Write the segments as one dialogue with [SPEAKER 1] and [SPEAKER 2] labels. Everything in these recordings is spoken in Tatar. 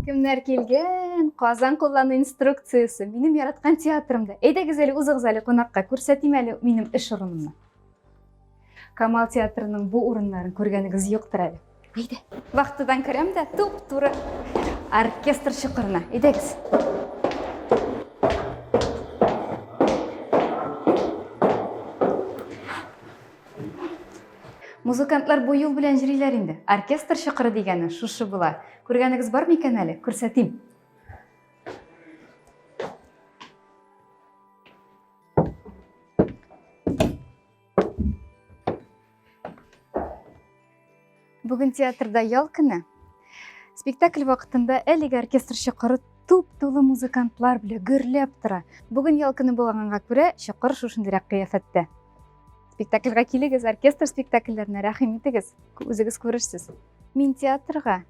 [SPEAKER 1] Кемнәр килгән? Казан куллану инструкциясе. Минем яраткан театрымда. Әйдәгез әле узыгыз әле кунакка. Күрсәтим әле минем эш урынымны. Камал театрының бу урыннарын күргәнегез юктыр әле. Әйдә. Вахтадан керәм дә туп-туры оркестр чокырына. Әйдәгез. Музыкантлар бу юл белән җриләр инде. Оркестр чыкыры дигәне шушы була. Күргәнегез бар микән әле? Күрсәтим. Бүген театрда ял көне. Спектакль вакытында әлеге оркестр чокыры туп-тулы музыкантлар белән гөрләп тора. Бүген ял көне булганга күрә чокыр шушындыйрак кыяфәттә. Спектакльгә килегез, оркестр спектакльләренә рәхим итегез. Үзегез күрерсез. Мин театрга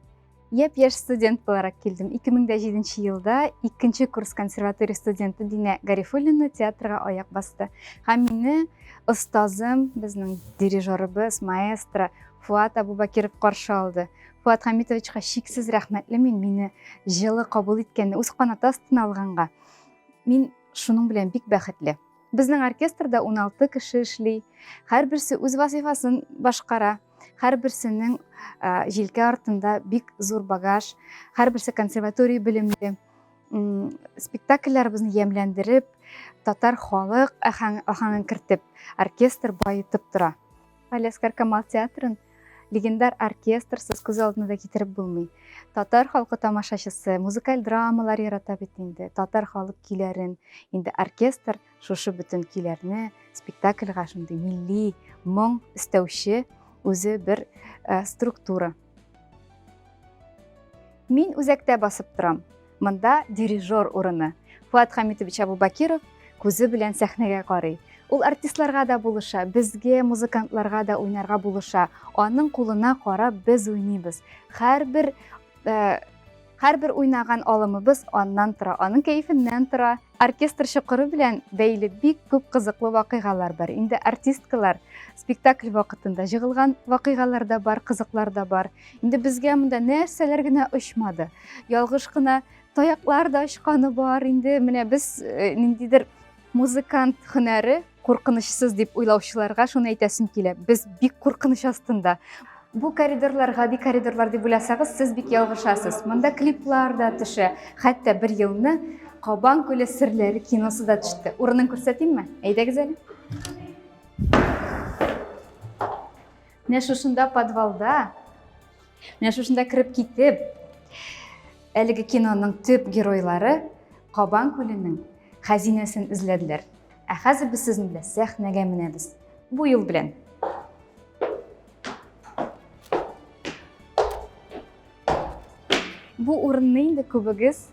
[SPEAKER 1] Яп яш студент буларак килдем. 2007 елда икенче курс консерватория студенты Динә Гарифуллина театрга аяк басты. Һәм мине остазым, безнең дирижерыбыз, маэстро Фуат Абубакиров каршы алды. Фуат Хамитовичка шиксез рәхмәтле мин мине җылы кабул иткәнне, үз канаты астына алганга. Мин шуның белән бик бәхетле. Безнең оркестрда 16 кеше эшли. Һәрберсе үз вазифасын башкара. Һәрберсенең җилкә артында бик зур багаж, һәрберсе консерватория белемле. Спектакльләребезне ямьләндереп, татар халык ахаңын кертеп, оркестр баетып тора. Алескар Камал театрын легендар оркестрсыз күз алдына да китереп булмый. Татар халкы тамашачысы, музыкаль драмалар ярата бит инде. Татар халык көйләрен инде оркестр Шушы бөтен көйләрне спектакльга шундый милли моң өстәүче үзе бер э, структура. Мин үзәктә басып торам. Монда дирижер урыны. Фуат Хамитович Абубакиров күзе белән сәхнәгә карый. Ул артистларга да булыша, безгә, музыкантларга да уйнарга булыша. Аның кулына карап без уйныйбыз. Һәрбер э, Һәрбер уйнаган алымыбыз аннан тора, аның кәефеннән тора. Оркестр чокыры белән бәйле бик күп кызыклы вакыйгалар бар. Инде артисткалар спектакль вакытында җыгылган вакыйгалар да бар, кызыклар да бар. Инде безгә монда нәрсәләр генә очмады. Ялгыш кына таяклар да очканы бар. Инде менә без э, ниндидер музыкант һөнәре Куркынычсыз дип уйлаучыларга шуны әйтәсем килә. Без бик куркыныч астында. Бу коридорлар гади коридорлар дип уйласагыз, сез бик ялгышасыз. Монда клиплар да төшә. Хәтта бер елны Кабан күле серләре киносы да төште. Урынын күрсәтимме? Әйдәгез әле. Менә шушында подвалда, менә шушында кереп китеп, әлеге киноның төп геройлары Кабан күленең хәзинәсен эзләделәр. Ә хәзер без сезнең белән сәхнәгә менәбез. Бу юл белән. Бу урынны инде күбегез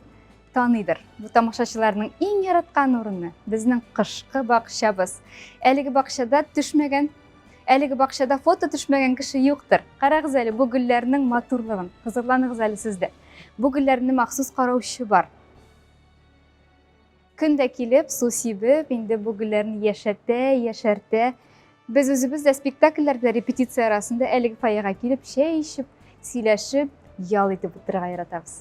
[SPEAKER 1] таныйдыр. Бу тамашачыларның иң яраткан урыны, безнең кышкы бакчабыз. Әлеге бакчада төшмәгән, әлеге бакчада фото төшмәгән кеше юктыр. Карагыз әле бу гөлләрнең матурлыгын, кызыкланыгыз әле сез дә. Бу гөлләрне махсус караучы бар. Көн дә килеп, су сибеп, инде бу гөлләрне яшәртә, яшәртә. Без үзебез дә спектакльләрдә репетиция арасында әлеге фойега килеп, чәй эчеп, сөйләшеп, ял итеп утырырга яратабыз.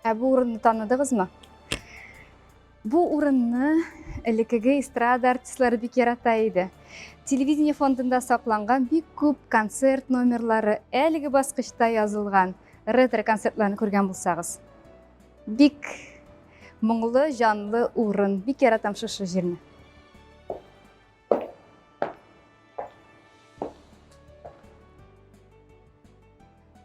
[SPEAKER 1] Ә бу урынны таныдыгызмы? Бу урынны элеккеге эстрада артистлары бик ярата иде. Телевидение фондында сакланган бик күп концерт номерлары әлеге баскычта язылган ретро концертларын күргән булсагыз. Бик моңлы, җанлы урын. Бик яратам шушы җирне.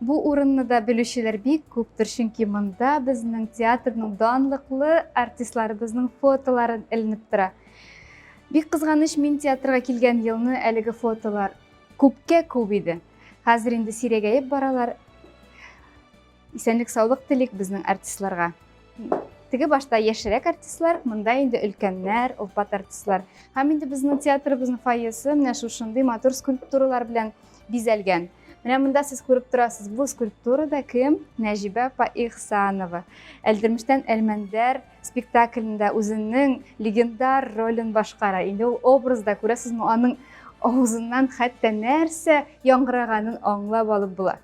[SPEAKER 1] Бу урынны да белүчеләр бик күптер, чөнки монда безнең театрның данлыклы артистларыбызның фотоларын эленеп тора. Бик кызганыч, мин театрга килгән елны әлеге фотолар күпкә күп иде. Хәзер инде сирәгәеп баралар. Исәнлек саулык телик безнең артистларга. Теге башта яшерәк артистлар, монда инде өлкәннәр, олпат артистлар. Һәм инде безнең театрыбызның фойесы менә шушындый матур скульптуралар белән бизәлгән. Менә монда сез күреп торасыз, бу скульптурада кем? Нәҗибә Паихсанова. Әлдермештән Әлмәндәр спектаклендә үзенең легендар ролен башкара. Инде ул образда күрәсезме, аның авызыннан хәтта нәрсә яңгыраганын аңлап алып була.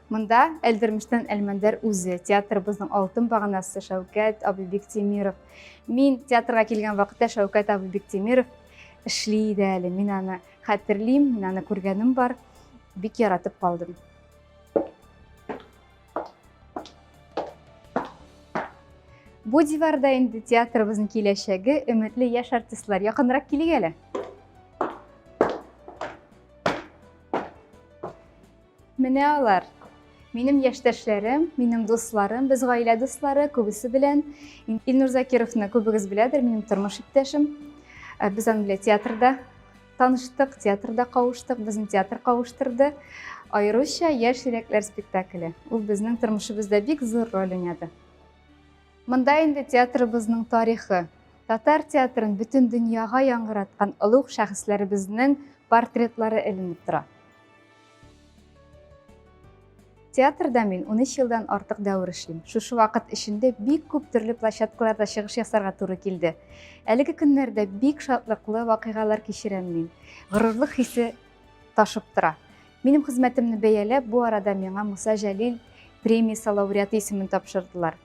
[SPEAKER 1] Монда Әлдермештән Әлмәндәр үзе, театрыбызның алтын баганасы Шәүкәт абый Бектимиров. Мин театрга килгән вакытта Шәүкәт абый Бектимиров эшли иде әле. Мин аны хәтерлим, мин аны күргәнем бар. Бик яратып калдым. Бу диварда инде театрыбызның киләчәге, өметле яшь артистлар. Якынрак килик әле. Менә алар. Минем яшьтәшләрем, минем дусларым, без гаилә дуслары, күбесе белән Илнур Закировны күбегез беләдер, минем тормыш иптәшем. Э, без аның белән театрда таныштык, театрда кавыштык, безне театр кавыштырды. Аеруча яшь йөрәкләр спектакле. Ул безнең тормышыбызда бик зур роль уйнады. Монда инде театрыбызның тарихы, татар театрын бөтен дөньяга яңгыраткан олуг шәхесләребезнең портретлары эленеп тора. Театрда мин 13 елдан артык дәвер эшлим. Шушы вакыт эчендә бик күп төрле площадкаларда чыгыш ясарга туры килде. Әлеге көннәрдә бик шатлыклы вакыйгалар кичерәм мин. Горурлык хисе ташып тора. Минем хезмәтемне бәяләп, бу арада миңа Муса Җәлил премиясе лауреаты исемен тапшырдылар.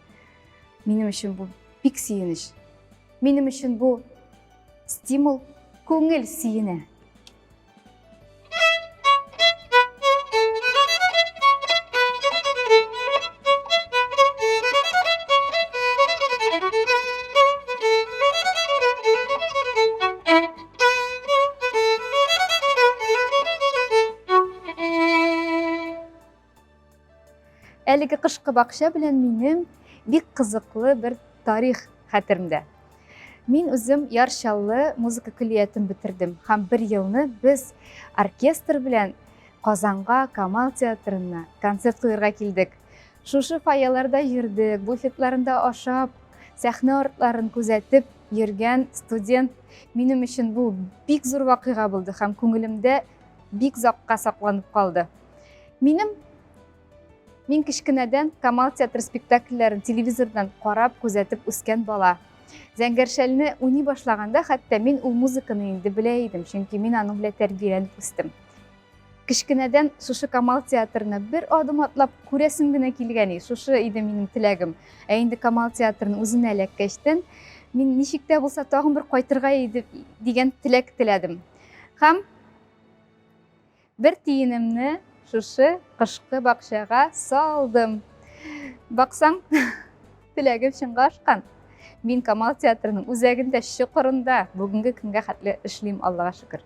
[SPEAKER 1] Минем өчен бу бик сөенеч. Минем өчен бу стимул, күңел сөенә. Thank you. Әлеге кышкы бакча белән минем бик кызыклы бер тарих хәтеремдә. Мин үзем Ярчаллы музыка көллиятен бетердем һәм бер елны без оркестр белән Казанга Камал театрына концерт куярга килдек. Шушы фойеларда йөрдек, буфетларында ашап, сәхнә артларын күзәтеп йөргән студент минем өчен бу бик зур вакыйга булды һәм күңелемдә бик закка сакланып калды. Минем Мин кечкенәдән Камал театр спектакльләрен телевизордан карап, күзәтеп үскән бала. Зәңгәршәлне уйный башлаганда, хәтта мин ул музыканы инде белә идем, чөнки мин аның белән тәрбияләнеп үстем. Кечкенәдән шушы Камал театрына бер адым атлап күрәсем генә килгәни, шушы иде минем теләгем. Ә инде Камал театрын үзенә эләккәчтен, мин ничек тә булса тагын бер кайтырга иде дигән теләк теләдем. Һәм бер тиенемне шушы кышкы бакчага салдым. Баксаң, теләгем чынга ашкан. Мин Камал театрының үзәгендә, чокырында бүгенге көнгә хәтле эшлим, Аллага шөкер.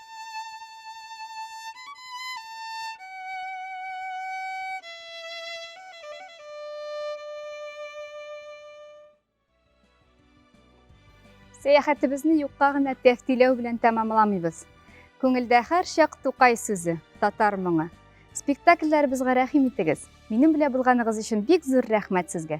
[SPEAKER 1] Сәяхәтебезне юкка гына тәфтиләү белән тәмамламыйбыз. Күңелдә һәр чак Тукай сүзе, татар моңы. Спектакльләребезгә рәхим итегез. Минем белән булганыгыз өчен бик зур рәхмәт сезгә.